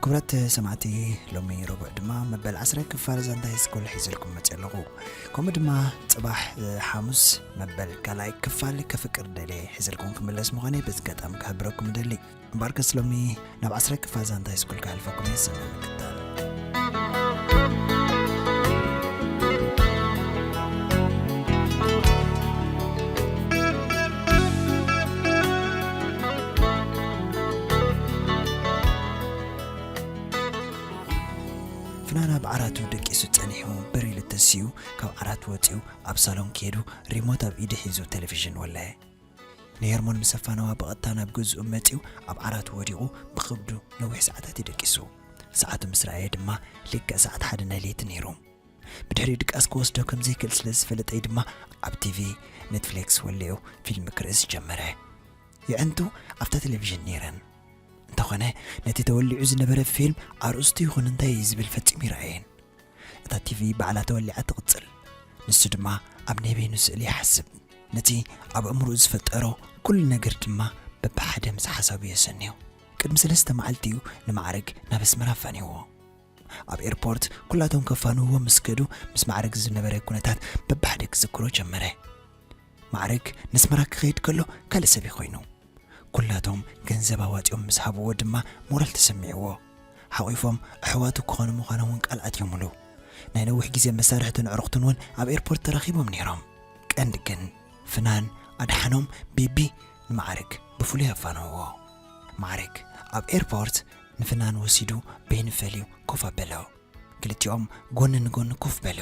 ክቡራት ሰማዕቲ ሎሚ ረቡዕ ድማ መበል ዓስራይ ክፋል ዛንታ ሃይስኩል ሒዘልኩም መፅእ ኣለኹ ከምኡ ድማ ፅባሕ ሓሙስ መበል ካልኣይ ክፋል ከፍቅር ደልየ ሒዘልኩም ክምለስ ምዃነይ በዚ ኣጋጣሚ ክሕብረኩም እደሊ እምበኣር ከስ ሎሚ ናብ ዓስራይ ክፋል ዛንታ ሃይስኩል ክሕልፈኩም እየ ሰናይ ምክታል ፍናን ኣብ ዓራቱ ደቂሱ ጸኒሑ ብሪል ተሲኡ ካብ ዓራቱ ወጺኡ ኣብ ሳሎን ከይዱ ሪሞት ኣብ ኢዱ ሒዙ ቴሌቪዥን ወለየ። ንሄርሞን ምስ ኣፋነዋ ብቐጥታ ናብ ገዝኡ መጺኡ ኣብ ዓራቱ ወዲቑ ብኸብዱ ነዊሕ ሰዓታት እዩ ደቂሱ። ሰዓቱ ምስ ረኣየ ድማ ልክዕ ሰዓት ሓደ ናይ ለይቲ ነይሩ። ብድሕሪኡ ድቃስ ክወስዶ ከም ዘይክእል ስለ ዝፈለጠ'ዩ ድማ ኣብ ቲቪ ኔትፍሌክስ ወሊዑ ፊልም ክርእስ ጀመረ። የዕንቱ ኣብታ ቴሌቪዥን ነይረን። እንተኾነ ነቲ ተወሊዑ ዝነበረ ፊልም ኣርእስቱ ይኹን እንታይ እዩ ዝብል ፈጺሙ ይርኣየን። እታ ቲቪ ባዕላ ተወሊዓ ትቕጽል። ንሱ ድማ ኣብ ናይ በይኑ ስእሊ ይሓስብ። ነቲ ኣብ ኣእምሮኡ ዝፈጠሮ ኩሉ ነገር ድማ በብሓደ ምስ ሓሳቡ የሰንዮ። ቅድሚ ሰለስተ መዓልቲ እዩ ንማዕርግ ናብ ኣስመራ ኣፋንዩዎ። ኣብ ኤርፖርት ኩላቶም ከፋንውዎ ምስ ከዱ ምስ ማዕርግ ዝነበረ ኩነታት በብሓደ ክዝክሮ ጀመረ። ማዕርግ ነስመራ ክኸይድ ከሎ ካልእ ሰብ'ዩ ኮይኑ። ኩላቶም ገንዘብ ኣዋጺኦም ምስ ሃብዎ ድማ ሞራል ተሰሚዕዎ። ሓቚፎም ኣሕዋቱ ክኾኑ ምዃኖም'ውን ቃል ኣትዮምሉ። ናይ ነዊሕ ግዜ መሳርሕቱን ኣዕሩኽቱን'ውን ኣብ ኤርፖርት ተራኺቦም ነይሮም። ቀንዲ ግን ፍናን፣ ኣድሓኖም፣ ቤቢ ንማዕርግ ብፍሉይ ኣፋነውዎ። ማዕርግ ኣብ ኤርፖርት ንፍናን ወሲዱ በይኑ ፈልዩ ኮፍ ኣበሎ። ክልቲኦም ጎኒ ንጎኒ ኮፍ በሉ።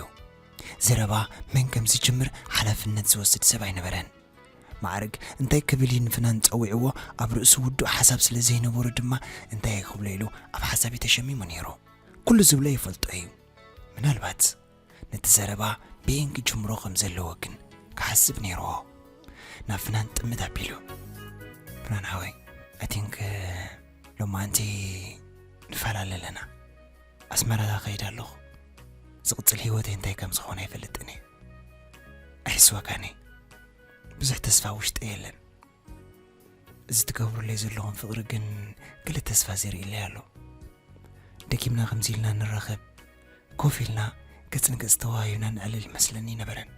ዘረባ መን ከም ዝጅምር ሓላፍነት ዝወስድ ሰብ ኣይነበረን። ማዕርግ እንታይ ክብል እዩ ንፍናን ጸዊዕዎ ኣብ ርእሱ ውዱእ ሓሳብ ስለ ዘይነበሮ ድማ እንታይ ክብሎ ኢሉ ኣብ ሓሳቢ ተሸሚሙ ነይሩ። ኩሉ ዝብሎ ይፈልጦ እዩ ምናልባት ነቲ ዘረባ በየን ክጅምሮ ከም ዘለዎ ግን ክሓስብ ነይርዎ። ናብ ፍናን ጥምት ኣቢሉ፣ ፍናን ሓወይ ኣይ ቲንክ ሎማዓንቲ ንፈላለ ኣለና። ኣስመራ ከይድ ኣለኹ። ዝቕጽል ህይወተይ እንታይ ከም ዝኾነ ኣይፈልጥን እየ። ኣይሕስወካን እየ። ብዙሕ ተስፋ ውሽጠይ የለን። እዚ ትገብሩለይ ዘለኹም ፍቕሪ ግን ገለ ተስፋ ዘርእለይ ኣሎ ደጊምና ከምዚ ኢልና ንራኸብ ኮፍ ኢልና ገጽ ንገጽ ተዋሂብና ንዕልል ይመስለኒ ይነበረን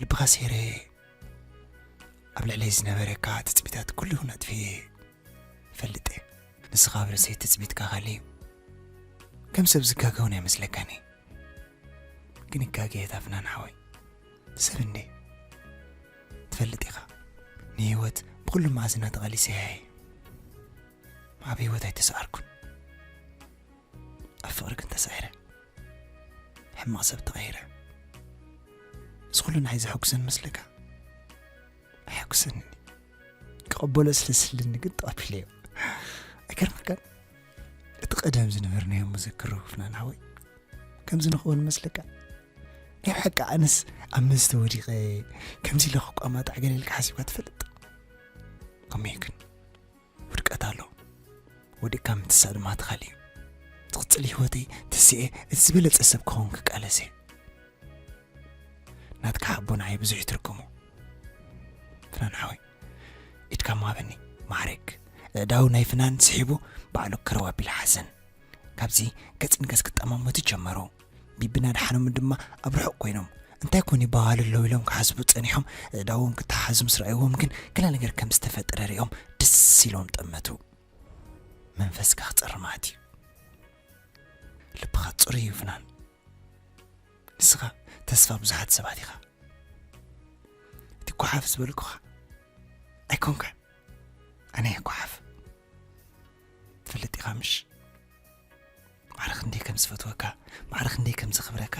ልብኻ ሴረ ኣብ ልዕለይ ዝነበረካ ትፅቢታት ኩሉ ይኹን ኣጥፍየ ፈልጥ እየ ንስኻ ኣብ ርእሰይ ትፅቢትካ ካልእ እዩ ከም ሰብ ዝጋገውን ኣይመስለካን ግን ይጋገየት ኣፍናን ሓወይ ሰብ እንዴ ትፈልጥ ኢኻ ንህይወት ብኩሉ መኣዝና ተቐሊሰያ እየ ኣብ ህይወት ኣይተሰዓርኩን ኣብ ፍቕሪ ግን ተሳዒረ ሕማቕ ሰብ ተቐይረ እዚ ኩሉ ንዓይ ዘሐጉሰን መስለካ ኣየሐጉሰንኒ ክቐበሎ ስለ ዝስልኒ ግን ተቐቢለዮ ኣይገርመካን እቲ ቀደም ዝነበርናዮ መዘክሮ ፍናን ሓወይ ከምዚ ንኸውን መስለካ ናይ ብሓቂ ኣነስ ኣብ መስተ ወዲቐ ከምዚ ኢለ ክቋማጣዕ ገለልካ ሓሲባ ትፈልጥ ከመይ ግን ውድቀት ኣሎ ወድቅካ ምትሳእ ድማ ትኻል እዩ ዝቕፅል ህይወተይ ትስኤ እቲ ዝበለፀ ሰብ ክኸውን ክቃለሰ ናትካ ሓቦ ንዓይ ብዙሕ ይትርጉሙ ፍናን ሓወይ ኢድካ ምሃበኒ ማዕርግ ኣእዳው ናይ ፍናን ስሒቡ ባዕሉ ከረው ኣቢሉ ሓዘን ካብዚ ገጽ ንገጽ ክጠማመቱ ጀመሩ ቢብን ኣድሓኖምን ድማ ኣብ ርሑቕ ኮይኖም እንታይ ኮን ይበሃሉ ኣለዉ ኢሎም ክሓስቡ ጸኒሖም እዳዎም ክተሓሓዙ ምስ ረኣይዎም ግን ገለ ነገር ከም ዝተፈጠረ ሪኦም ደስ ኢሎም ጠመቱ መንፈስካ ክጸርማት እዩ ልብኻ ጽሩይ እዩ ፍናን ንስኻ ተስፋ ብዙሓት ሰባት ኢኻ እቲ ጓሓፍ ዝበልኩኻ ኣይኮንካ ኣነ እየ ጓሓፍ ትፈልጥ ኢኻ ምሽ ማዕረ ክንደይ ከም ዝፈትወካ ማዕረ ክንደይ ከም ዘኽብረካ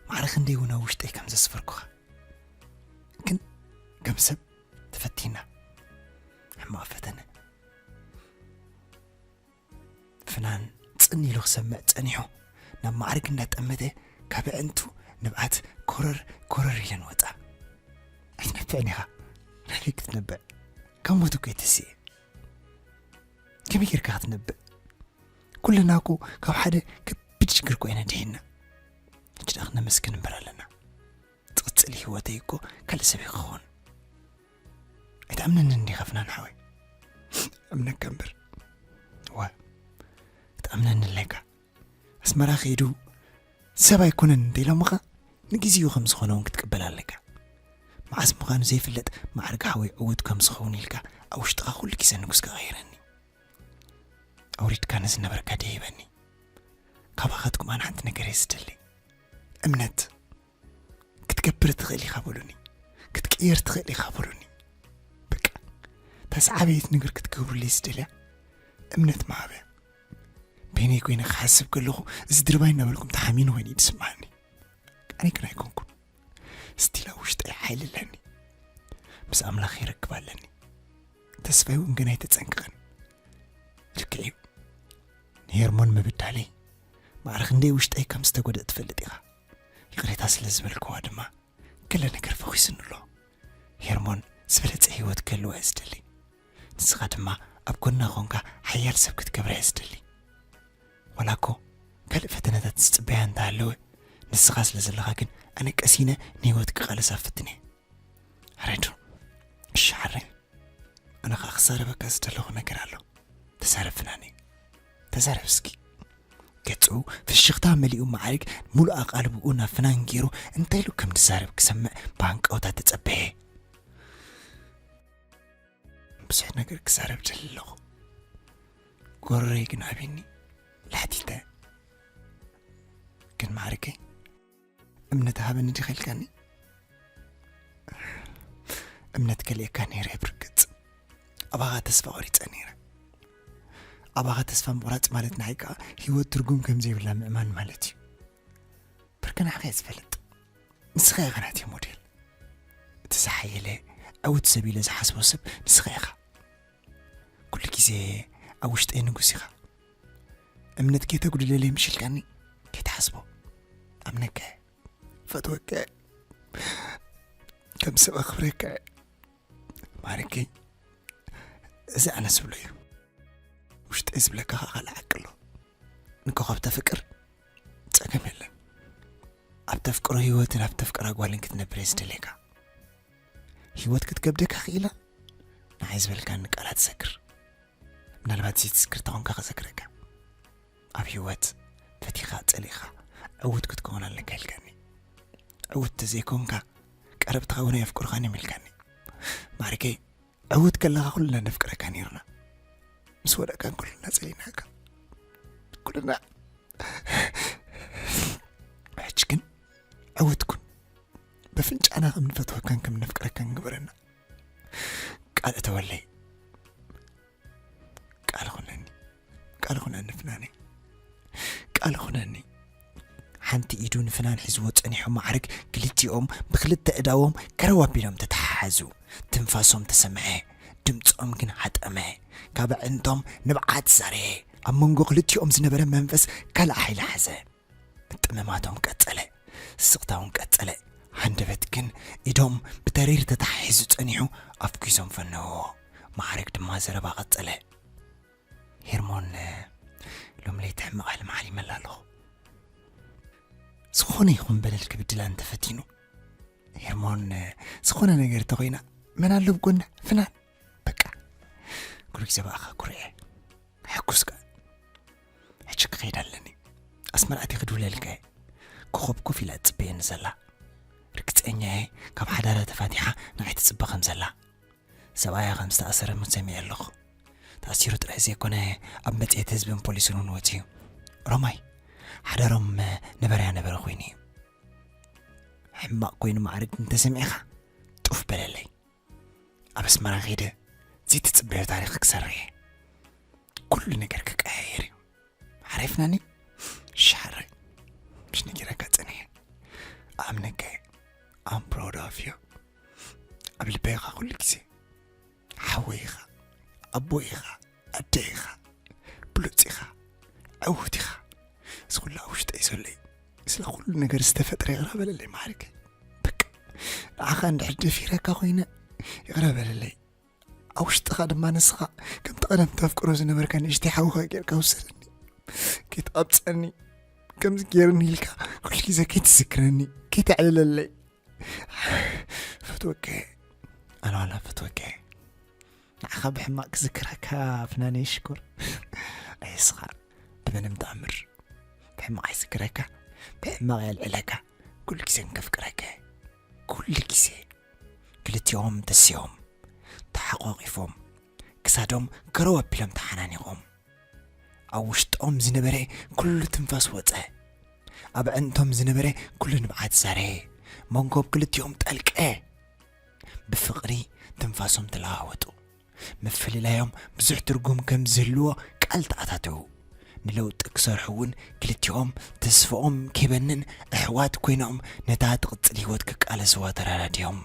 ማዕረ ክንደይ እውን ኣብ ውሽጠይ ከም ዘስፈርኩኻ ግን ከም ሰብ ተፈቲና ሕማቕ ፈተነ ፍናን ጽን ኢሉ ክሰምዕ ጸኒሑ ናብ ማዕርግ እንዳጠመተ ካብ ኣዕንቱ ንብዓት ኮረር ኮረር ኢለን ወጻ። ኣይትነብዕን ኢኻ ናበይ ክትነብዕ ካብ ሞት እኮ የተስኤ ከመይ ጌርካ ክትነብዕ ኩልና እኮ ካብ ሓደ ከቢድ ሽግር እኮ ኢና ድሒና ሕጂ ደኣ ክነመስግን እምበር ኣለና ትቅጽል ሂወተይ እኮ ካልእ ሰብ እየ ክኸውን ኣይትኣምነንን ዲኻ ፍናን ሓወይ እምነካ እምበር ዋ ክትኣምነኒ ኣለካ ኣስመራ ከይዱ ሰብ ኣይኮነን እንተኢሎምኻ ንግዜኡ ከም ዝኾነ እውን ክትቅበል ኣለካ መዓስ ምዃኑ ዘይፍለጥ ማዕርግ ሓወይ ዕውት ከም ዝኸውን ኢልካ ኣብ ውሽጥኻ ኩሉ ግዜ ንጉስ ክቐይረኒ ኣውሪድካ ንዝነበርካ ደይበኒ ካባኻትኩም ኣነ ሓንቲ ነገር እየ ዝደሊ እምነት ክትገብር ትኽእል ኢኻ በሉኒ ክትቅየር ትኽእል ኢኻ በሉኒ በቃ ተስዓበየት ነገር ክትገብሩለይ ዝደልያ እምነት መሃብያ በይነይ ኮይነ ክሓስብ ከለኹ እዚ ድርባይ እናበልኩም ተሓሚኑ ኮይኑ እዩ ዝስምዓኒ ኣነ ግን ኣይኮንኩም ስቲላ ውሽጠይ ሓይሊ ኣለኒ ምስ ኣምላኽ ይረክብ ኣለኒ ተስፋይ እውን ግን ኣይተፀንቅቕን ልክዕ እዩ ንሄርሞን ምብዳለይ ማዕረ ክንደይ ውሽጠይ ከም ዝተጎድእ ትፈልጥ ኢኻ። ይቕሬታ ስለ ዝበልክዋ ድማ ገለ ነገር ፈኺሱኒ ኣሎ። ሄርሞን ዝበለጸ ህይወት ክህልዋ እየ ዝደሊ። ንስኻ ድማ ኣብ ጎና ኰንካ ሓያል ሰብ ክትገብራ እየ ዝደሊ። ዋላ እኮ ካልእ ፈተነታት ዝጽበያ እንተ ሃለወ ንስኻ ስለ ዘለኻ ግን ኣነ ቀሲነ ንህይወት ክቓለሳ ፍትን እየ። ረዱ እሺ ሓረይ ኣነ ኸኣ ክዛረበካ ዝደለኹ ነገር ኣሎ ተዛረብ ፍናነይ ተዛረብ እስኪ። ገጹ ፍሽኽታ መሊኡ መዓርግ ሙሉእ ኣቓልብኡ ናብ ፍናን ጌሩ እንታይ ኢሉ ከም ዝዛረብ ክሰምዕ ብሃንቀውታ ተጸበየ። ብዙሕ ነገር ክዛረብ ደሊ ኣለኹ ጎረረይ ግን ኣቢኒ ላሕቲተ ግን መዓርገይ እምነት ሃበኒ ዲኺ ኢልካኒ እምነት ከልእካ ነይረ ብርግፅ ኣባኻ ተስፋ ቆሪፀ ነይረ ኣባኻ ተስፋ ምቑራፅ ማለት ንዓይ ከዓ ሂወት ትርጉም ከም ዘይብላ ምእማን ማለት እዩ ብርክ ንዓኸ እየ ዝፈልጥ ንስኻ ኢኻ ናት እየ ሞዴል እቲ ዝሓየለ ዕውት ሰብ ኢለ ዝሓስቦ ሰብ ንስኻ ኢኻ ኩሉ ግዜ ኣብ ውሽጠይ ንጉስ ኢኻ እምነት ከይተጉድለለይ ምሽ ኢልካኒ ከይትሓስቦ ኣምነካ እየ ፈትወካ እየ ከም ሰብ ኣኽብረካ እየ ማርኪ እዚ ኣነ ዝብሎ እዩ ውሽጠይ ዝብለካ ከዓ ካልእ ዓቂ ኣሎ ንኮኸብ ተፍቅር ጸገም የለን ኣብ ተፍቅሮ ህይወትን ኣብ ተፍቅራ ጓልን ክትነብር እየ ዝደልየካ ህይወት ክትከብደካ ክኢላ ንዓይ ዝበልካኒ ቃላት ሰግር ምናልባት ዘይትዝክር ተኾንካ ከዘክረካ ኣብ ህይወት ፈቲኻ ጸሊእኻ ዕውት ክትከውን ኣለካ ኢልካኒ ዕውት ተዘይኮንካ ቀረብትኻ እውን ኣየፍቅርኻን እዮም ኢልካኒ ማሪከይ ዕውት ከለኻ ኩልና ነፍቅረካ ነርና ምስ ወደቃን ኩልና ጸሊናካ ኩልና ሕጂ ግን ዕውት ኩን በፍንጫና ከም ንፈትወካን ከም ነፍቅረካን ግበረና ቃል እተወለይ ቃል ኹነኒ ቃል ኹነኒ ፍናነይ ቃል ኹነኒ ሓንቲ ኢዱ ንፍናን ሒዝዎ ጸኒሖ ማዕርግ ክልቲኦም ብክልተ እዳዎም ከረው ኣቢሎም ተተሓሓዙ ትንፋሶም ተሰምዐ ድምፆም ግን ሓጠመ ካብ ኣዕንቶም ንብዓት ዛረየ ኣብ መንጎ ክልቲኦም ዝነበረ መንፈስ ካልእ ሓይሊ ሓዘ ምጥምማቶም ቀጸለ፣ ስቕታውን ቀጸለ፣ ሃንደበት ግን ኢዶም ብተሪር ተተሓሒዙ ጸኒሑ ኣፍኲሶም ፈነውዎ። መዓርግ ድማ ዘረባ ቀጸለ። ሄርሞን ሎሚ ለይቲ ሕማቕ ሕልሚ ሓሊመላ ኣለኹ። ዝኾነ ይኹን በደል ክብድላ እንተፈቲኑ ሄርሞን ዝኾነ ነገር ተኾይና መን ኣሎ ብጎና ፍናን በቃ ኩርዕ ዘባእኻ ኩርዐ ሕኩስ ከ ሕጂ ክኸይድ ኣለኒ ኣስመራእቲ ክድውለልካ እየ ኮኸብ ኮፍ ኢላ ትፅበየኒ ዘላ ርግፀኛ እየ ካብ ሓዳራ ተፋቲሓ ንዓይ ትፅበ ከም ዘላ ሰብኣያ ከም ዝተኣሰረ ሙት ሰሚዐ ኣለኹ ተኣሲሩ ጥራሕ ዘይኮነ ኣብ መፅሄት ህዝብን ፖሊስን እውን ወፅዩ ሮማይ ሓዳሮም ነበረያ ነበረ ኮይኑ እዩ ሕማቕ ኮይኑ ማዕርግ እንተሰሚዕኻ ጡፍ በለለይ ኣብ ኣስመራ ከይደ ዘይትጽበዮ ታሪኽ ክሰርሕ እየ ኩሉ ነገር ክቀያየር እዩ ሓሪፍናኒ ሻረ ምሽ ነጊረካ ጸኒሐ ኣምነካ እየ ኣም ፕራውድ ኦፍ ዩ ኣብ ልበይ ኢኻ ኩሉ ግዜ ሓወይ ኢኻ ኣቦይ ኢኻ ኣደይ ኢኻ ብሉጽ ኢኻ ዕውት ኢኻ እዚ ኩሉ ኣብ ውሽጠይ ዘሎ እዩ ስለ ኩሉ ነገር ዝተፈጥረ ይቕረ በለለይ ማዕርገይ በቃ ንዓኻ እንድሕር ደፊረካ ኮይነ ይቕረ በለለይ ኣብ ውሽጥኻ ድማ ንስኻ ከምቲ ቀደም ተፍቅሮ ዝነበርካ ንእሽተይ ሓውኻ ጌርካ ውሰደኒ ከይትቐብፀኒ ከምዚ ጌርኒ ኢልካ ኩሉ ግዜ ከይትዝክረኒ ከይተዕልለለይ ፈትወከ ኣነ ዋላ ፈትወከ ንዓኻ ብሕማቅ ክዝክረካ ፍናነይ ሽኮር ኣይስኻዕ ብመንም ተኣምር ብሕማቅ ኣይዝክረካ ብሕማቅ የልዕለካ ኩሉ ግዜ እንከፍቅረካ ኩሉ ግዜ ክልቲኦም ተሲኦም ተሓቋቂፎም ክሳዶም ከረው ኣቢሎም ተሓናኒቆም ኣብ ውሽጦም ዝነበረ ኩሉ ትንፋስ ወፀ ኣብ ዕንቶም ዝነበረ ኩሉ ንብዓት ዛረ መንጎብ ክልቲኦም ጠልቀ ብፍቕሪ ትንፋሶም ተለዋወጡ። ምፍልላዮም ብዙሕ ትርጉም ከም ዝህልዎ ቃል ተኣታተዉ። ንለውጢ ክሰርሑ እውን ክልቲኦም ተስፋኦም ከይበንን ኣሕዋት ኮይኖም ነታ ትቕጽል ህይወት ክቃለስዋ ተረዳዲኦም።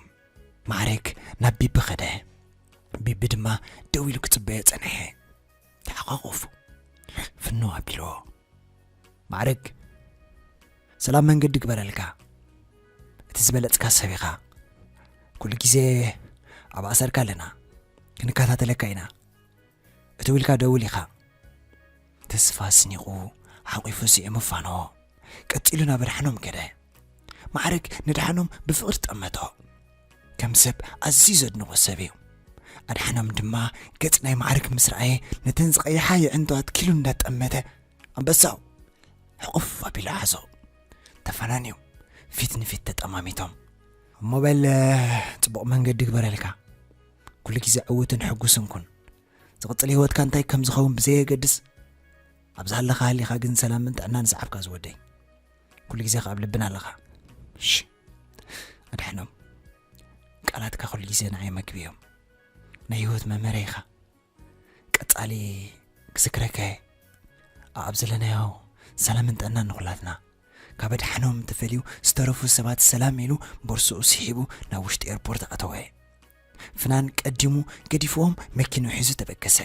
ማዕረግ ናብ ቢቢ ከደ። ቢቢ ድማ ደው ኢሉ ክጽበዮ ጸንሐ። ተሓቛቖፉ ፍንው ኣቢልዎ ማዕርግ ሰላም መንገዲ ግበረልካ እቲ ዝበለጽካ ሰብ ኢኻ ኩሉ ግዜ ኣብ ኣሰርካ ኣለና ክንከታተለካ ኢና እቲ ውልካ ደውል ኢኻ ተስፋ ስኒቑ ሓቂፉ ስዒሙ ፋንዎ ቀጺሉ ናብ ኣድሓኖም ከደ ማዕርግ ንድሓኖም ብፍቕሪ ጠመቶ ከም ሰብ ኣዝዩ ዘድንቖ ሰብ እዩ። ኣድሓኖም ድማ ገጽ ናይ ማዕርግ ምስ ረኣየ ነተን ዝቐይሓ የዕንቶ ኣትኪሉ እንዳጠመተ ኣንበሳው ሕቑፍ ኣቢሉ ሓዞ። ተፈናንዮም ፊት ንፊት ተጠማሚቶም እሞ በል ጽቡቕ መንገዲ ግበረልካ ኩሉ ግዜ ዕውትን ሕጉስን ኩን ዝቕጽል ህይወትካ እንታይ ከም ዝኸውን ብዘየገድስ ኣብ ዝሃለኻ ሃሊኻ ግን ሰላምን ጥዕናን ሰዓብካ ዝወደይ ኩሉ ግዜ ከኣብ ልብና ኣለኻ ኣድሕኖም ቃላትካ ኩሉ ግዜ ንዓይ መግቢ እዮም ናይ ህይወት መመረ ኢኻ ቀጻሊ ክዝክረካ እየ ኣብ ዘለናዮ ሰላምን ጥዕናን ንኹላትና ካብ ኣድሓኖም ተፈልዩ ዝተረፉ ሰባት ሰላም ኢሉ ቦርስኡ ስሒቡ ናብ ውሽጢ ኤርፖርት ኣተወ ፍናን ቀዲሙ ገዲፍዎም መኪኑ ሒዙ ተበገሰ።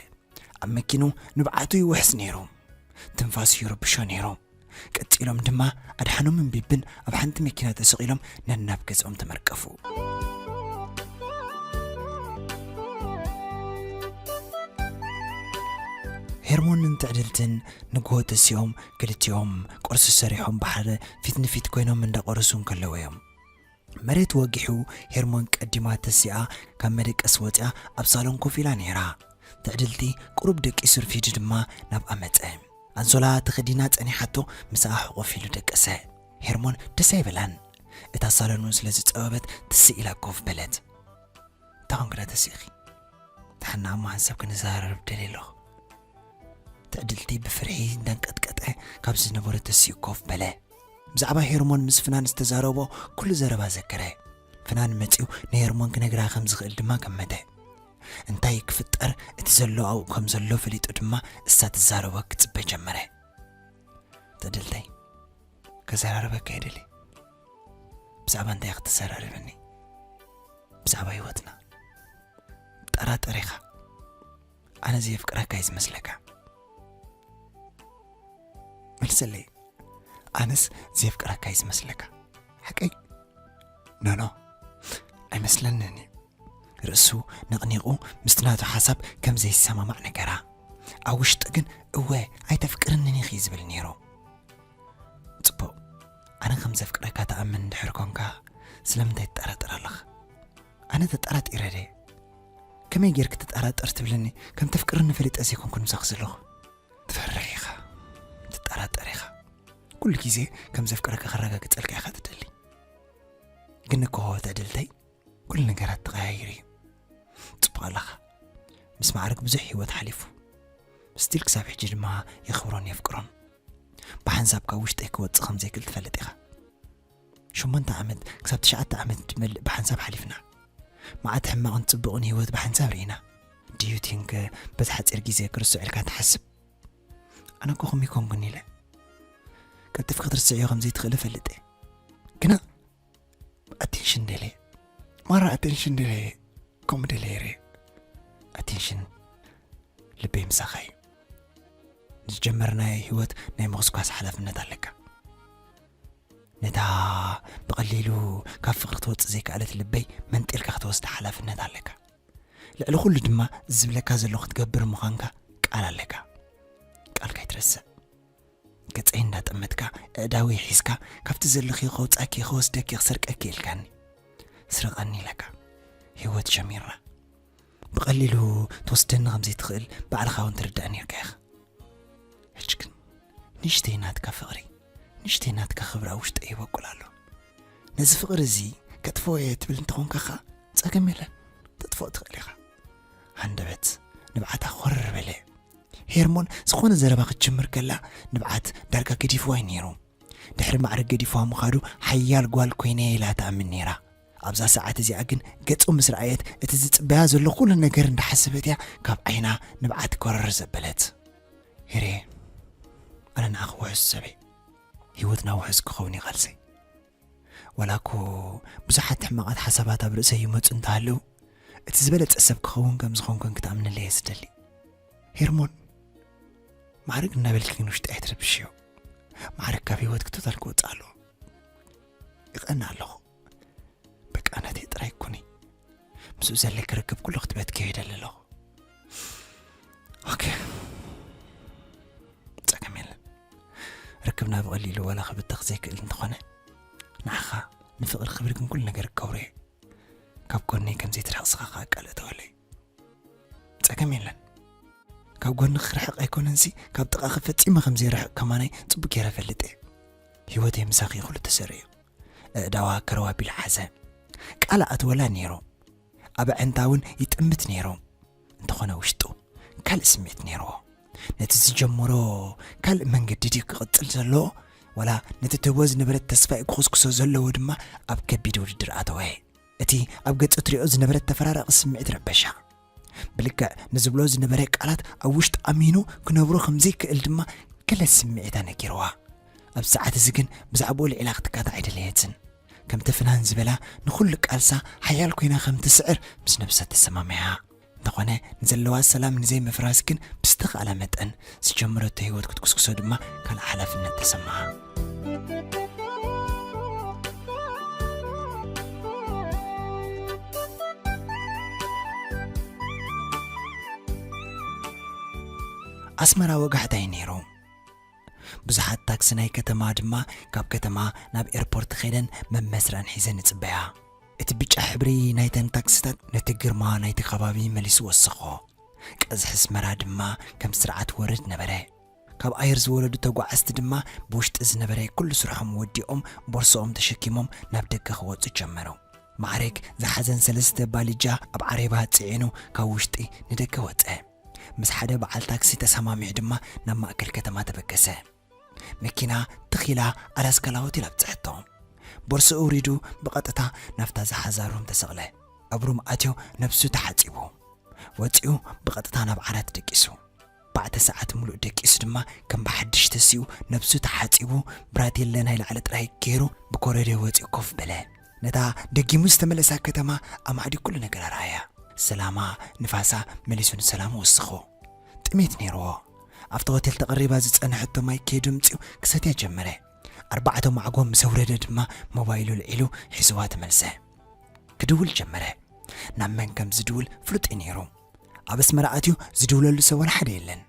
ኣብ መኪኑ ንብዓቱ ይውሕዝ ነይሩ። ትንፋሱ ይርብሾ ነይሩ። ቀጺሎም ድማ ኣድሓኖምን ቢብን ኣብ ሓንቲ መኪና ተሰቒሎም ነናብ ገዝኦም ተመርቀፉ። ሄርሞንን ትዕድልትን ንግሆ ተሲኦም ክልቲኦም ቁርሲ ሰሪሖም ብሓደ ፊት ንፊት ኮይኖም እንዳቆረሱ እንከለዉ እዮም መሬት ወጊሑ ሄርሞን ቀዲማ ተሲኣ ካብ መደቀሲ ወጺኣ ኣብ ሳሎን ኮፍ ኢላ ነይራ። ትዕድልቲ ቁሩብ ደቂሱ ርፊዱ ድማ ናብኣ መጸ። ኣንሶላ ተኸዲና ጸኒሓቶ ምሳኣ ሕቑፍ ኢሉ ደቀሰ። ሄርሞን ደስ ኣይበላን። እታ ሳሎን'ውን ስለ ዝጸበበት ትስእ ኢላ ኮፍ በለት። እንታይ ኰንኪ ደኣ ተሲእኺ? ንሓና እማን ሰብ ክንዘራረብ ደልየ ኣለኹ ትዕድልቲ ብፍርሒ እንዳንቀጥቀጠ ካብ ዝነበረ ተሲኡ ኮፍ በለ ብዛዕባ ሄርሞን ምስ ፍናን ዝተዛረቦ ኩሉ ዘረባ ዘከረ ፍናን መፂኡ ንሄርሞን ክነግራ ከም ዝኽእል ድማ ገመተ እንታይ ክፍጠር እቲ ዘሎ ኣብኡ ከም ዘሎ ፈሊጡ ድማ እሳ ትዛረቦ ክፅበ ጀመረ ትዕድልተይ ከዘራርበካ የደሊ ብዛዕባ እንታይ ክትዘራርብኒ ብዛዕባ ህይወትና ጠራጠር ኢኻ ኣነ ዘየፍቅረካ እዩ ዝመስለካ መልሰለይ ኣነስ ዘየፍቅረካ እዩ ዝመስለካ ሓቀይ ኖኖ ኣይመስለንን እዩ ርእሱ ነቕኒቑ ምስቲ ናቱ ሓሳብ ከም ዘይሰማማዕ ነገራ ኣብ ውሽጢ ግን እወ ኣይተፍቅርንን ኢኺ ዝብል ነይሩ ጽቡቕ ኣነ ከም ዘፍቅረካ ትኣምን እንድሕር ኮንካ ስለምንታይ ትጠራጠር ኣለኻ ኣነ ተጠራጢረ ደየ ከመይ ጌርክ ትጠራጠር ትብልኒ ከም ተፍቅርኒ ፈሊጠ ዘይኮንኩን ምሳኺ ዘለኹ ትፈርሕ ኢኻ ትጠራጠር ኢኻ ኩሉ ግዜ ከም ዘፍቅረካ ከረጋግጸልካ ኢኻ ትደሊ ግን እኮ ተዕድልተይ ኩሉ ነገራት ተቐያይሩ እዩ ጽቡቕ ኣለኻ ምስ ማዕርግ ብዙሕ ህይወት ሓሊፉ ስቲል ክሳብ ሕጂ ድማ የኽብሮን የፍቅሮን ብሓንሳብ ካብ ውሽጠይ ክወጽእ ከም ዘይክእል ትፈልጥ ኢኻ። ሸሞንተ ዓመት ክሳብ ትሽዓተ ዓመት ትመልእ ብሓንሳብ ሓሊፍና። መዓት ሕማቕን ጽቡቕን ህይወት ብሓንሳብ ርኢና። ድዩ ቲንክ በዚ ሓጺር ግዜ ክርስዕ ኢልካ ትሓስብ ኣነ እኮ ከምይ ኮንኩን ኢለ ቀልጢፍ ክትርስዕዮ ከም ዘይትኽእል እፈልጥ ግና ኣቴንሽን ደልየ ማራ ኣቴንሽን ደልየ ከምኡ ደልየ ርየ ኣቴንሽን ልበይ ምሳኻ እዩ ንዝጀመርናዮ ህይወት ናይ ምቕስቋስ ሓላፍነት ኣለካ ነታ ብቐሊሉ ካብ ፍቕሪ ትወፅእ ዘይከኣለት ልበይ መንጢልካ ክትወስዳ ሓላፍነት ኣለካ ልዕሊ ኩሉ ድማ ዝብለካ ዘሎ ክትገብር ምዃንካ ቃል ኣለካ ቃልካ ይትረስዕ ገጸይ እንዳጠመትካ ኣእዳወይ ሒዝካ ካብቲ ዘለኽዮ ከውጻኪ ክወስደኪ ክሰርቀኪ ኢልካኒ ስረቀኒ ኢለካ ሂወት ሸሚራ ብቐሊሉ ትወስደኒ ከም ዘይትኽእል ባዕልኻ እውን ትርዳእ ነርካ ኢኻ ሕጂ ግን ንሽተይ ናትካ ፍቕሪ ንሽተይ ናትካ ክብራ ውሽጠ ይበቁል ኣሎ ነዚ ፍቕሪ እዚ ከጥፍኦ እየ ትብል እንተኾንካኻ ጸገም የለን ተጥፍኦ ትኽእል ኢኻ ሃንደበት ንብዓታ ኮር በለ። ሄርሞን ዝኾነ ዘረባ ክትጅምር ከላ ንብዓት ዳርጋ ገዲፍዋ እዩ ነይሩ። ድሕሪ ማዕረ ገዲፍዋ ምኻዱ ሓያል ጓል ኮይነ ኢላ ትኣምን ነይራ። ኣብዛ ሰዓት እዚኣ ግን ገጹ ምስ ረኣየት እቲ ዝጽበያ ዘሎ ኩሉ ነገር እንዳሓሰበት እያ ካብ ዓይና ንብዓት ኮረር ዘበለት። ሄሬ ኣነ ንዓኺ ውሑስ ሰበይ ህይወትና ውሑስ ክኸውን ይቓልሰይ ዋላ'ኮ ብዙሓት ሕማቓት ሓሳባት ኣብ ርእሰይ ይመጹ እንተሃለዉ፣ እቲ ዝበለጸ ሰብ ክኸውን ከም ዝኾንኩን ክትኣምንለይ እየ ዝደሊ። ሄርሞን ማዕርግ እናበልኪ ግን ውሽጢ ኣይትረብሽዮ ማዕርግ ካብ ህይወት ክቶታል ክወፅእ ኣለዎ ይቐና ኣለኹ በቃ ናተይ ጥራይ ኩኒ ምስኡ ዘለኪ ርክብ ኩሉ ክትበትኪዮ ይደሊ ኣለኹ ኦኬ ፀገም የለን ርክብና ብቐሊሉ ዋላ ክብተኽ ዘይክእል እንተኾነ ንዓኻ ንፍቕሪ ክብሪ ግን ኩሉ ነገር ክገብሮ እየ ካብ ጎነይ ከም ዘይትርሕቕስኻ ከዓ ቃል እተወለይ ፀገም የለን ካብ ጎኒ ክርሕቕ ኣይኮነንሲ ካብ ጥቓኺ ፈፂመ ከም ዘይርሕቕ ከማናይ ፅቡቅ ገይረ ፈልጥ እየ ህይወተይ ምሳኺ ይኹሉ ተሰሪዑ ኣእዳዋ ከረዋ ቢላ ሓዘ ቃል ኣእትወላ ነይሩ ኣብ ኣዒንታ ውን ይጥምት ነይሩ እንተኾነ ውሽጡ ካልእ ስምዒት ነይርዎ ነቲ ዝጀመሮ ካልእ መንገዲ ድዩ ክቕጽል ዘለዎ ወላ ነቲ ትህቦ ዝነበረት ተስፋይ ክኹስኩሶ ዘለዎ ድማ ኣብ ከቢድ ውድድር ኣተወ እቲ ኣብ ገጹ ትሪኦ ዝነበረት ተፈራራቒ ስምዒት ረበሻ ብልክዕ ንዝብሎ ዝነበረ ቃላት ኣብ ውሽጢ ኣሚኑ ክነብሮ ከም ዘይክእል ድማ ገለ ስምዒታ ነጊርዋ ኣብ ሰዓት እዚ ግን ብዛዕባኡ ልዒላ ክትካታ ኣይደለየትን ከምቲ ፍናን ዝበላ ንኹሉ ቃልሳ ሓያል ኮይና ከም ትስዕር ምስ ነብሳ ተሰማሚዓ። እንተኾነ ንዘለዋ ሰላም ንዘይምፍራስ ግን ብዝተኻእላ መጠን ዝጀመረቶ ህይወት ክትጉስጉሶ ድማ ካልእ ሓላፍነት ተሰምዓ። ኣስመራ ወጋሕታ እዩ ነይሩ። ብዙሓት ታክሲ ናይ ከተማ ድማ ካብ ከተማ ናብ ኤርፖርት ከይደን መመስርዐን ሒዘን ይጽበያ። እቲ ብጫ ሕብሪ ናይተን ታክሲታት ነቲ ግርማ ናይቲ ከባቢ መሊሱ ወሰኾ። ቀዝሒ ኣስመራ ድማ ከም ስርዓት ወርድ ነበረ። ካብ ኣየር ዝወረዱ ተጓዓዝቲ ድማ ብውሽጢ ዝነበረ ኩሉ ስርሖም ወዲኦም ቦርሶኦም ተሸኪሞም ናብ ደገ ክወጹ ጀመሩ። ማዕረግ ዝሓዘን ሰለስተ ባሊጃ ኣብ ዓሬባ ጽዒኑ ካብ ውሽጢ ንደገ ወጸ። ምስ ሓደ በዓል ታክሲ ተሰማሚዑ ድማ ናብ ማእከል ከተማ ተበገሰ። መኪና ትኽ ኢላ ኣላስካላዎት ኢላ ኣብጽሐቶ። ቦርስኡ ኣውሪዱ ብቐጥታ ናብታ ዝሓዛ ሩም ተሰቕለ። ኣብ ሩም ኣትዮ ነብሱ ተሓጺቡ። ወጺኡ ብቐጥታ ናብ ዓራት ደቂሱ። ኣርባዕተ ሰዓት ምሉእ ደቂሱ ድማ ከም ብሓድሽ ተሲኡ ነብሱ ተሓጺቡ ብራቴለ ናይ ላዕሊ ጥራይ ገይሩ ብኮረድዮ ወጺኡ ኮፍ በለ። ነታ ደጊሙ ዝተመለሳ ከተማ ኣማዕዲ ኩሉ ነገር ኣርኣያ። ሰላማ፣ ንፋሳ መሊሱ ንሰላሙ ወሰኾ። ጥሜት ነይርዎ። ኣብቲ ሆቴል ተቐሪባ ዝጸንሐቶ ማይ ከይዱ ኣምጺኡ ክሰትያ ጀመረ። ኣርባዕተ ማዕጎ ምስ ኣውረደ ድማ ሞባይሉ ኣልዒሉ ሒዝዋ ተመልሰ። ክድውል ጀመረ። ናብ መን ከም ዝድውል ፍሉጥ እዩ ነይሩ። ኣብ ኣስመራ ኣትዩ ዝድውለሉ ሰብ ዋላ ሓደ የለን።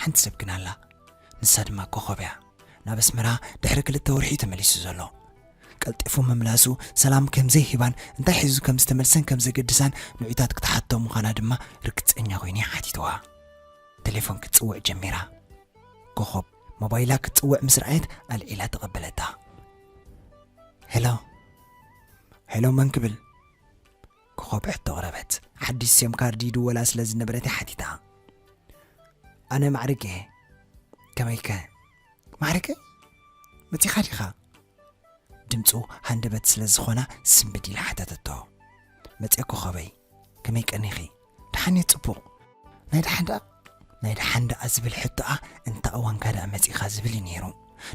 ሓንቲ ሰብ ግን ኣላ። ንሳ ድማ ኮኾብ እያ። ናብ ኣስመራ ድሕሪ ክልተ ወርሒ'ዩ ተመሊሱ ዘሎ። ቀልጢፉ ምምላሱ ሰላም ከም ዘይህባን እንታይ ሒዙ ከም ዝተመልሰን ከም ዘገድሳን ንዑታት ክትሓቶ ምዃና ድማ ርግጸኛ ኮይነ ሓቲትዋ። ተሌፎን ክትጽውዕ ጀሚራ። ኮኾብ ሞባይላ ክትጽውዕ ምስ ረኣየት ኣልዒላ ተቐበለታ። ሄሎ ሄሎ መን ክብል ኮኾብ ሕቶ ቕረበት ሓድሽ ሴም ካርድ ይድወላ ስለ ዝነበረት ሓቲታ ኣነ ማዕርግ እየ ከመይከ ማዕርገ መጺኻ ዲኻ ድምፁ ሃንደበት ስለ ዝኾና ስምብድ ኢላ ሓተተቶ መፅኤ ኮኸበይ ከመይ ቀኒኺ ደሓን እየ ፅቡቕ ናይ ደሓን ደኣ ናይ ደሓን ደኣ ዝብል ሕቶኣ እንታ እዋንካ ደኣ መጺኻ ዝብል እዩ ነይሩ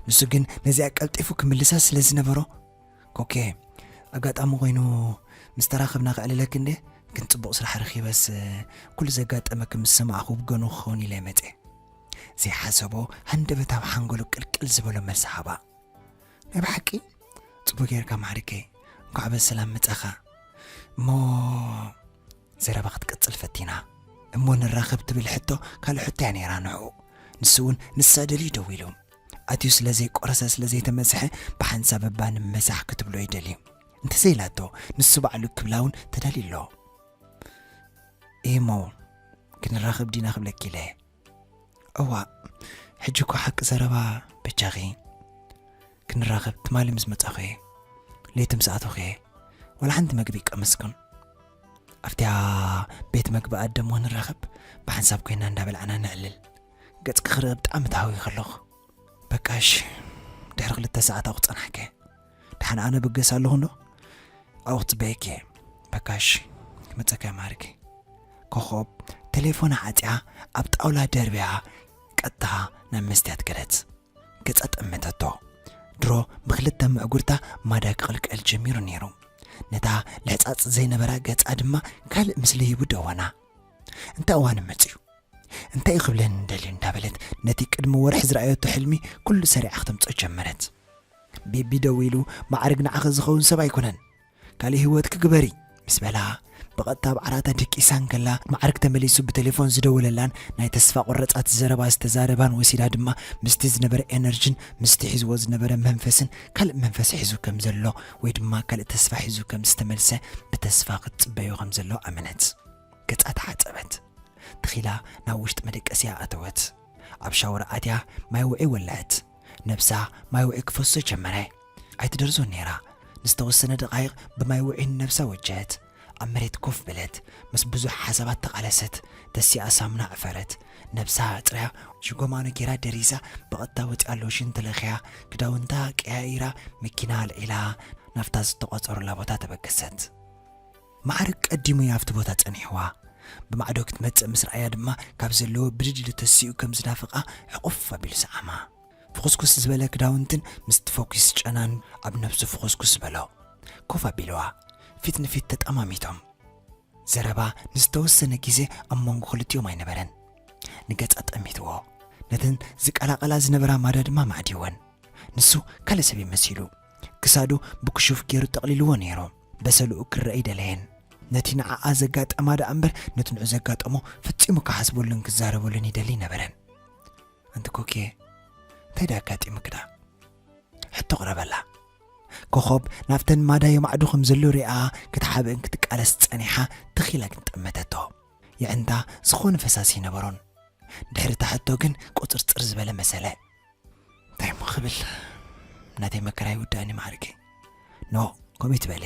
ንሱ ግን ነዚኣ ቀልጢፉ ክምልሳ ስለ ዝነበሮ ኮኬ ኣጋጣሚ ኮይኑ ምስ ተራኸብና ክዕልለክ እንደ ግን ፅቡቕ ስራሕ ረኺበስ ኩሉ ዘጋጠመክ ምስ ሰማዕኹ ብገኑ ክኸውን ኢለ መፀ ዘይሓሰቦ ሃንደበታዊ ሓንጎሉ ቅልቅል ዝበሎ መልሲ ሃባ። ናይ ብሓቂ? ጽቡቅ ጌርካ ማዕሪገይ እንኳዕ በሰላም መጻኻ እሞ ዘረባ ክትቅጽል ፈቲና እሞ ንራኸብ ትብል ሕቶ ካልእ ሕቶ እያ ነይራ ንዕኡ ንሱ እውን ንሳ ደልዩ ደው ኢሉ ኣትዩ ስለ ዘይቆረሰ ስለ ዘይተመዝሐ ብሓንሳብ እባ ንመዛሕ ክትብሎ ይደልዩ እንተዘይላቶ ንሱ ባዕሉ ክብላ እውን ተዳልዩ ኣሎ እሞ ክንራኸብ ዲና ክብለኪ ኢለ እዋእ ሕጂ እኮ ሓቂ ዘረባ በጃኺ ክንራኸብ ትማሊ ምስ መጻኹ እየ ለይቲ ምስ ኣተኹ እየ ወላ ሓንቲ መግቢ ቀመስኩም ኣብቲያ ቤት መግቢ ኣደሞ ንራኸብ ብሓንሳብ ኮይና እንዳበልዓና ነዕልል ገጽኪ ክርኢ ብጣዕሚ ተሃዊ ከለኹ በቃሽ ድሕሪ ክልተ ሰዓት ኣቑ ጸናሕከ ድሓን ኣነ ብገስ ኣለኹ እንዶ ኣብኡ ክትጽበየኪ እየ በካሽ ክመጸካ ማርኪ ኮኾብ ቴሌፎና ዓጽያ ኣብ ጣውላ ደርብያ ቀጥታ ናብ መስትያት ገለት ገጻ ጠመተቶ ድሮ ብክልተ ምዕጉርታ ማዳ ክቕልቀል ጀሚሩ ነይሩ ነታ ልሕጻጽ ዘይነበራ ገጻ ድማ ካልእ ምስሊ ሂቡ ደወና እንታይ እዋን መጽዩ እንታይ እዩ ክብለን እንደልዩ እንዳበለት ነቲ ቅድሚ ወርሒ ዝረኣየቶ ሕልሚ ኩሉ ሰሪዓ ክተምፅኦ ጀመረት ቢቢ ደው ኢሉ ማዕርግ ንዓኺ ዝኸውን ሰብ ኣይኮነን ካሊእ ህይወትኪ ግበሪ ምስ በላ ብቐጥታ ኣብ ዓራታ ድቂሳ እንከላ ማዕርግ ተመሊሱ ብቴሌፎን ዝደወለላን ናይ ተስፋ ቆረጻት ዘረባ ዝተዛረባን ወሲዳ ድማ ምስቲ ዝነበረ ኤነርጅን ምስቲ ሒዝዎ ዝነበረ መንፈስን ካልእ መንፈስ ሒዙ ከም ዘሎ ወይ ድማ ካልእ ተስፋ ሒዙ ከም ዝተመልሰ ብተስፋ ክትጽበዮ ከም ዘሎ ኣመነት ገጻ ተሓጸበት ተኺላ ናብ ውሽጢ መደቀሲያ ኣተወት ኣብ ሻወር ኣትያ ማይ ውዒ ወለዐት ነብሳ ማይ ውዑይ ክፈሶ ጀመረ። ኣይትደርዞን ነይራ። ንዝተወሰነ ደቓይቕ ብማይ ውዑይ ንነብሳ ወጀሀት። ኣብ መሬት ኮፍ በለት። ምስ ብዙሕ ሓሳባት ተቓለሰት። ተሲኣ ሳሙና ዕፈረት። ነብሳ ኣጽርያ ሽጎማኖ ጌራ ደሪዛ ብቐጥታ ወጺኣ ሎሽን ተለኽያ ክዳውንታ ቀያይራ መኪና ኣልዒላ ናብታ ዝተቖጸሩላ ቦታ ተበገሰት። መዓርግ ቀዲሙ እያ ኣብቲ ቦታ ጸኒሕዋ። ብማዕዶ ክትመጽእ ምስ ረኣያ ድማ ካብ ዘለዎ ብድድ ኢሉ ተሲኡ ከም ዝናፍቓ ሕቑፍ ኣቢሉ ሰዓማ። ፍኹስኩስ ዝበለ ክዳውንትን ምስቲ ፈኲስ ጨናን ኣብ ነብሱ ፍኹስኩስ በሎ። ኮፍ ኣቢልዋ። ፊት ንፊት ተጠማሚቶም። ዘረባ ንዝተወሰነ ግዜ ኣብ መንጎ ክልቲኦም ኣይነበረን። ንገጻ ጠሚትዎ። ነተን ዝቀላቐላ ዝነበራ ማዳ ድማ ማዕዲወን። ንሱ ካልእ ሰብ እዩ መሲሉ። ክሳዱ ብክሹፍ ገይሩ ጠቕሊልዎ ነይሩ። በሰልኡ ክርእ ኣይደለየን። ነቲ ንዓኣ ዘጋጠማ ደኣ እምበር ነቲ ንዑ ዘጋጠሞ ፈጺሙ ክሓስበሉን ክዛረበሉን ይደሊ ኣይነበረን። ኣንቲ ኮኪየ እንታይ ደኣ ኣጋጢሙኪ ደኣ? ሕቶ ኣቕረበላ። ኮኾብ ናብተን ማዳ የማዕዱ ከም ዘሎ ሪኣ ክትሓብእን ክትቃለስ ጸኒሓ ትኽ ኢላ ግን ጠመተቶ። የዕንታ ዝኾነ ፈሳሲ ኣይነበሮን። ድሕሪ እታ ሕቶ ግን ቁጽርጽር ዝበለ መሰለ። እንታይ እሞ ክብል ናተይ መከራ ይውዳእኒ ማዕርጊ ኖ ከምኡ ትበለ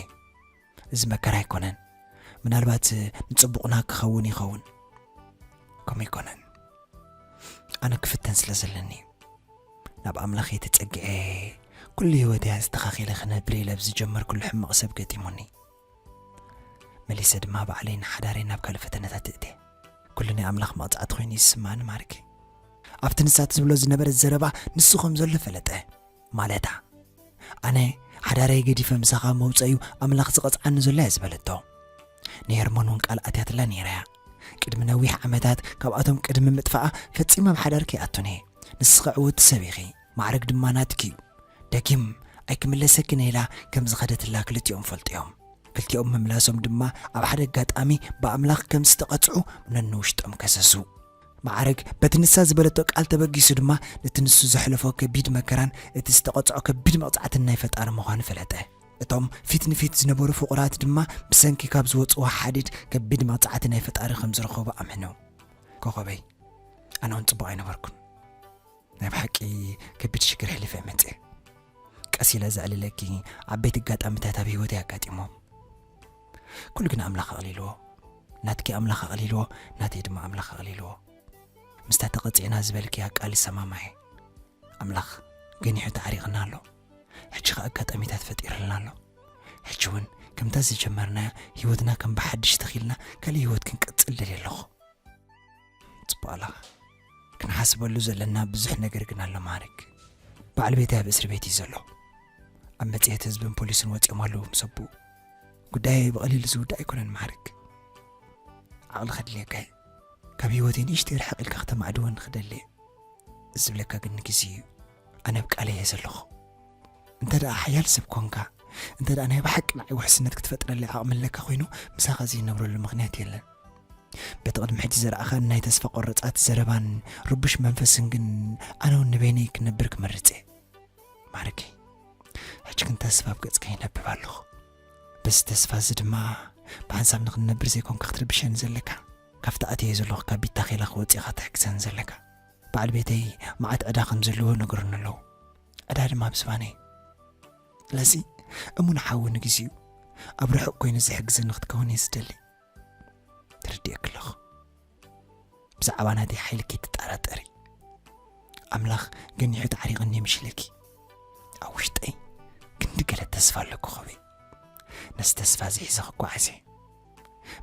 እዚ መከራ ኣይኮነን ምናልባት ንፅቡቕና ክኸውን ይኸውን ከምኡ ኣይኮነን ኣነ ክፍተን ስለ ዘለኒ ናብ ኣምላኽ የተፀግዐ ኩሉ ህይወት እያ ዝተኻኺለ ክነብር ኢለ ብዝጀመርኩሉ ሕማቕ ሰብ ገጢሙኒ መሊሰ ድማ ባዕለይ ንሓዳረይ ናብ ካልእ ፈተነታት እእቴ። ኩሉ ናይ ኣምላኽ መቕጻዕቲ ኮይኑ እዩ ዝስምዓኒ ማርክ። ኣብቲ ንሳ ትዝብሎ ዝነበረት ዘረባ ንሱ ከም ዘሎ ፈለጠ። ማለታ ኣነ ሓዳረይ ገዲፈ ምሳኻ መውጸእዩ ኣምላኽ ዝቐጽዓኒ ዘሎ እያ ዝበለቶ። ንሄርሞን እውን ቃል ኣትያትላ ነይራ እያ። ቅድሚ ነዊሕ ዓመታት ካብኣቶም ቅድሚ ምጥፋኣ ፈጺመ ኣብ ሓዳር ከይኣቱን እየ ንስኺ ዕውቲ ሰብ ኢኺ ማዕርግ ድማ ናትኪ እዩ ደጊም ኣይክምለሰክን ኢላ ከም ዝኸደትላ ክልቲኦም ፈልጢዮም። ክልቲኦም ምምላሶም ድማ ኣብ ሓደ ኣጋጣሚ ብኣምላኽ ከም ዝተቐጽዑ ነንውሽጦም ከሰሱ። ማዕርግ በቲ ንሳ ዝበለቶ ቃል ተበጊሱ ድማ ነቲ ንሱ ዘሕለፎ ከቢድ መከራን እቲ ዝተቐጽዖ ከቢድ መቕጻዕትን ናይ ፈጣሪ ምዃኑ ፈለጠ። እቶም ፊት ንፊት ዝነበሩ ፍቑራት ድማ ብሰንኪ ካብ ዝወጽዎ ሓድድ ከቢድ መቕጻዕቲ ናይ ፈጣሪ ከም ዝረኸቡ ኣምኑ። ኮኸበይ ኣነ እውን ጽቡቕ ኣይነበርኩን። ናይ ብሓቂ ከቢድ ሽግር ሕሊፈ እየ መጽኤ ቀስ ኢለ ዘዕልለኪ ዓበይቲ ኣጋጣሚታት ኣብ ህይወተይ ኣጋጢሞም ኩሉ ግን ኣምላኽ ኣቕሊልዎ ናትኪ ኣምላኽ ኣቕሊልዎ ናተይ ድማ ኣምላኽ ኣቕሊልዎ ምስታ ተቐፂዕና ዝበልክያ ቃል ይሰማማየ ኣምላኽ ገኒሑ ተዓሪቕና ኣሎ ሕጂ ከ ኣጋጣሚታት ፈጢርልና ኣሎ ሕጂ እውን ከምታ ዝጀመርናያ ህይወትና ከም ብሓድሽ ተኺልና ካልእ ህይወት ክንቅፅል ደልየ ኣለኹ ጽቡቅ ኣለኻ ክንሓስበሉ ዘለና ብዙሕ ነገር ግን ኣሎ ማዕርግ በዓል ቤተይ ኣብ እስሪ ቤት እዩ ዘሎ ኣብ መጽሔት ህዝብን ፖሊስን ወፂኦም ኣለዉ ምስ ኣቦኡ ጉዳየይ ብቐሊሉ ዝውዳእ ኣይኮነን ማዕርግ ዓቕሊ ከድልየካ እዩ ካብ ህይወተይ ንእሽተይ ርሕቕ ኢልካ ክተማዕድወኒ ክደሊ እየ ዝብለካ ግን ንግዜ እዩ ኣነ ኣብ ቃለይ እየ ዘለኹ። እንተ ደኣ ሓያል ሰብ ኰንካ፣ እንተ ደኣ ናይ ብሓቂ ንዓይ ውሕስነት ክትፈጥረለይ ዓቕሚ ኣለካ ዀይኑ፣ ምሳኻ ዘይነብረሉ ምኽንያት የለን። በቲ ቕድሚ ሕጂ ዘረኣኻኒ ናይ ተስፋ ቈረጻት ዘረባን ርቡሽ መንፈስን ግን፣ ኣነ እውን ንበይነይ ክነብር ክመርጽ እየ። ማርኪ፣ ሕጂ ግን ተስፋ ኣብ ገጽካ ይነብብ ኣለኹ። በዚ ተስፋ እዚ ድማ ብሓንሳብ ንኽንነብር ዘይኰንካ ክትርብሸኒ ዘለካ፣ ካብቲ ኣትየዮ ዘለኹ ካብ ቢታ ኼላ ክወጽእ ኢኻ ትሕግዘኒ ዘለካ። በዓል ቤተይ መዓት ዕዳ ከም ዘለዎ ነገሩኒ ኣለዉ። ዕዳ ድማ ኣብ ዝባነይ። ስለዚ እሙን ሓዊ ንግዜኡ ኣብ ርሑቕ ኮይኑ ዝሕግዘኒ ክትከውን እየ ዝደሊ። ተረዲኤኪ ኣለኹ። ብዛዕባ ናተይ ሓይሊ ከይትጠራጠሪ። ኣምላኽ ገኒሑ ተዓሪቕኒ እየ ምሽለኪ። ኣብ ውሽጠይ ክንዲ ገለ ተስፋ ኣለኩ ኸበይ ነዚ ተስፋ እዚ ሒዘ ክጓዓዝ እየ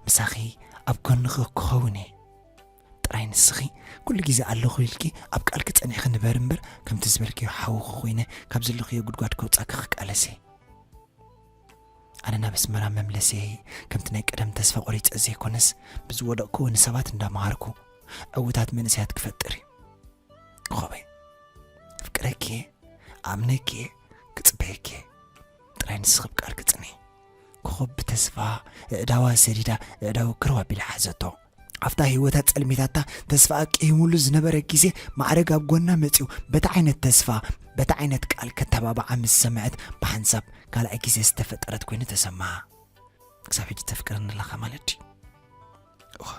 ምሳኺ ኣብ ጎንኺ ክኸውን እየ ጥራይ ንስኺ ኩሉ ግዜ ኣለኹ ኢልኪ ኣብ ቃልኪ ጸኒዕኺ ንበሪ እምበር ከምቲ ዝበልክዮ ሓውኺ ኮይነ ካብ ዘለኽዮ ጉድጓድ ከውጻኪ ክቃለስ እየ ኣነ ናብ ኣስመራ መምለሰየይ ከምቲ ናይ ቀደም ተስፋ ቆሪጸ ዘይኮነስ ብዝወደቕክዎ ንሰባት እንዳመሃርኩ ዕውታት መንእሰያት ክፈጥር እዩ ኮኸበይ ፍቅረኪ እየ ኣምነኪ እየ ክጽበየኪ እየ ጥራይ ንስኺ ብ ቃልኪ ጽንዒ ኮኸብ ብተስፋ እዕዳዋ ሰዲዳ እዕዳዊ ክረው ኣቢላ ሓዘቶ ኣብታ ህይወታ ጸልሚታታ ተስፋኣ ቅሂሙሉ ዝነበረ ግዜ ማዕረግ ኣብ ጎና መጺኡ በቲ ዓይነት ተስፋ በቲ ዓይነት ቃል ከተባብዓ ምስ ሰምዐት ብሓንሳብ ካልኣይ ግዜ ዝተፈጠረት ኮይኑ ተሰማዓ ክሳብ ሕጂ ተፍቅረኒ ኣለኻ ማለት ድዩ እኻ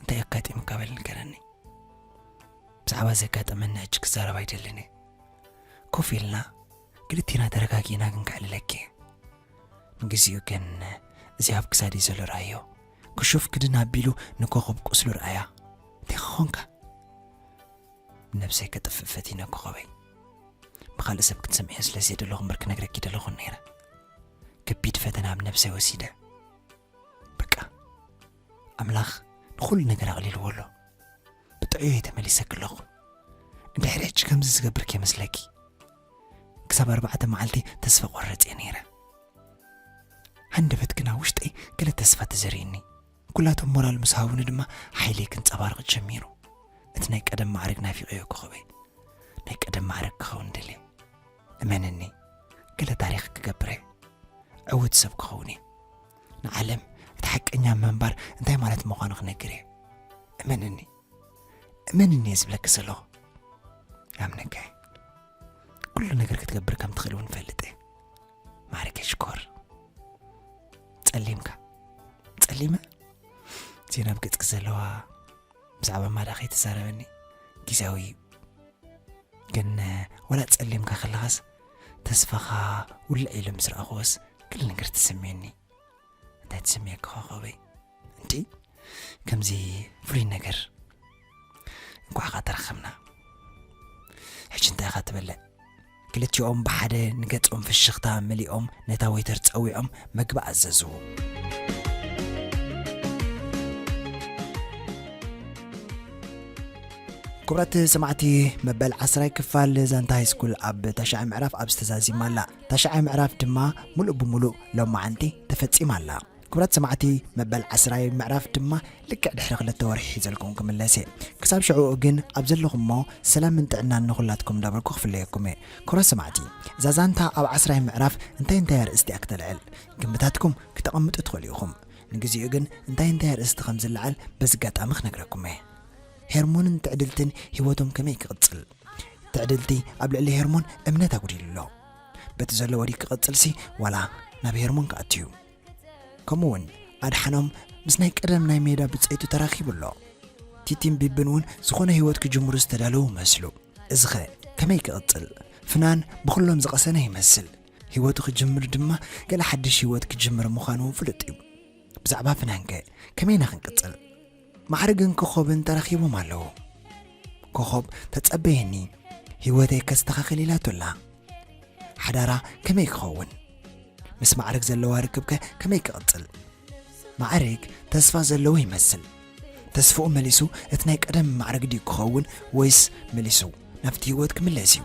እንታይ ኣጋጢሙካ በል ንገረኒ ብዛዕባ ዘጋጠመኒ ሕጂ ክዛረብ ኣይደልን ኮፍ ኢልና ክልቴና ተረጋጊና ክንክዕልለኪ ንግዚኡ ግን እዚ ኣብ ክሳደይ ዘሎ ርኣዮ ክሹፍ ክድን ኣቢሉ ንኮኾብ ቁስሉ ርኣያ ዲኻ ኾንካ ነብሰይ ከጥፍእ ፈቲነ ኮኾበይ ብኻልእ ሰብ ክትሰምዕዮ ስለ ዘየደለኹ እምበር ክነግረኪ ደለኹን ነይረ ከቢድ ፈተና ኣብ ነብሰይ ወሲደ በቃ ኣምላኽ ንኹሉ ነገር ኣቕሊልዎ ኣሎ ብጥዕዮ እየ ተመሊሰ ክለኹ እንድሕሪ ሕጂ ከምዚ ዝገብር ከይመስለኪ ክሳብ ኣርባዕተ መዓልቲ ተስፋ ቆርጽ እየ ነይረ ሃንደበት ግና ውሽጠይ ገለ ተስፋ ተዘሪእኒ ኩላቶም ሞራል ምስ ሃቡኒ ድማ ሓይለይ ክንጸባርቕ ጀሚሩ እቲ ናይ ቀደም ማዕርግ ናፊቐዮ ኮኸበይ ናይ ቀደም ማዕርግ ክኸውን ደልየ እመነኒ ገለ ታሪኽ ክገብረ ዕውት ሰብ ክኸውን እየ ንዓለም እቲ ሓቀኛ ምንባር እንታይ ማለት ምዃኑ ክነግር እየ እመነኒ እመንኒ እየ ዝብለኪ ዘለኹ ኣምነካ እየ ኩሉ ነገር ክትገብር ከም ትኽእል እውን ፈልጥ እየ ማሪከ ሽኮር ጸሊምካ ጸሊመ ዜና ኣብ ገጽኪ ዘለዋ ብዛዕባ ማዳ ከይተዛረበኒ ግዜያዊ እዩ ግን ወላ ጸሊምካ ከለኻስ ተስፋኻ ውልዕ ኢሉ ምስ ረኣኹወስ ክል ነገር ትስምየኒ እንታይ ትስምየካ ኮኸበይ እንዲ ከምዚ ፍሉይ ነገር እንኳዕ ኸ ተረኸብና ሕጂ እንታይ ኢኻ ትበልዕ ክልቲኦም ብሓደ ንገጾም ፍሽኽታ መሊኦም ነታ ወይተር ጸዊዖም መግቢ ኣዘዝዎ ክብራት ሰማዕቲ መበል ዓስራይ ክፋል ዛንታ ሃይስኩል ኣብ ታሽዓይ ምዕራፍ ኣብ ዝተዛዚማ ኣላ ታሽዓይ ምዕራፍ ድማ ሙሉእ ብሙሉእ ሎማዓንቲ ተፈጺማ ኣላ ክብራት ሰማዕቲ መበል ዓስራይ ምዕራፍ ድማ ልክዕ ድሕሪ ክልተ ወርሒ ሒዘልኩም ክምለስ እየ ክሳብ ሽዕኡ ግን ኣብ ዘለኹሞ ሰላምን ጥዕናን ንኹላትኩም እንዳበልኩ ክፍለየኩም እየ ክብራት ሰማዕቲ እዛ ዛንታ ኣብ ዓስራይ ምዕራፍ እንታይ እንታይ ኣርእስቲ እያ ክተልዕል ግምታትኩም ክተቐምጡ ትኽእሉ ኢኹም ንግዚኡ ግን እንታይ እንታይ ኣርእስቲ ከም ዝለዓል በዚ ኣጋጣሚ ክነግረኩም እየ ሄርሞንን ትዕድልትን ህይወቶም ከመይ ክቕፅል ትዕድልቲ ኣብ ልዕሊ ሄርሞን እምነት ኣጉዲሉ ኣሎ በቲ ዘሎ ወዲ ክቕፅልሲ ዋላ ናብ ሄርሞን ክኣትዩ ከምኡ ውን ኣድሓኖም ምስ ናይ ቀደም ናይ ሜዳ ብጸይቱ ተራኺቡ ኣሎ። ቲቲን ቢብን ውን ዝኾነ ህይወት ክጅምሩ ዝተዳለዉ ይመስሉ። እዚኸ ከመይ ክቕጽል? ፍናን ብኹሎም ዝቐሰነ ይመስል። ህይወቱ ክጅምር ድማ ገለ ሓድሽ ህይወት ክጅምር ምዃኑ ውን ፍሉጥ እዩ። ብዛዕባ ፍናንከ ከመይ ኢና ክንቅጽል? ማዕርግን ኮኾብን ተራኺቦም ኣለዉ ኮኾብ ተጸበየኒ ህይወተይ ከስተኻኽል ኢላቶ ኣላ ሓዳራ ከመይ ክኸውን ምስ ማዕርግ ዘለዋ ርክብከ ከመይ ክቕጽል ማዕርግ ተስፋ ዘለዎ ይመስል ተስፋኡ መሊሱ እቲ ናይ ቀደም ማዕርግ ድዩ ክኸውን ወይስ መሊሱ ናብቲ ህይወት ክምለስ እዩ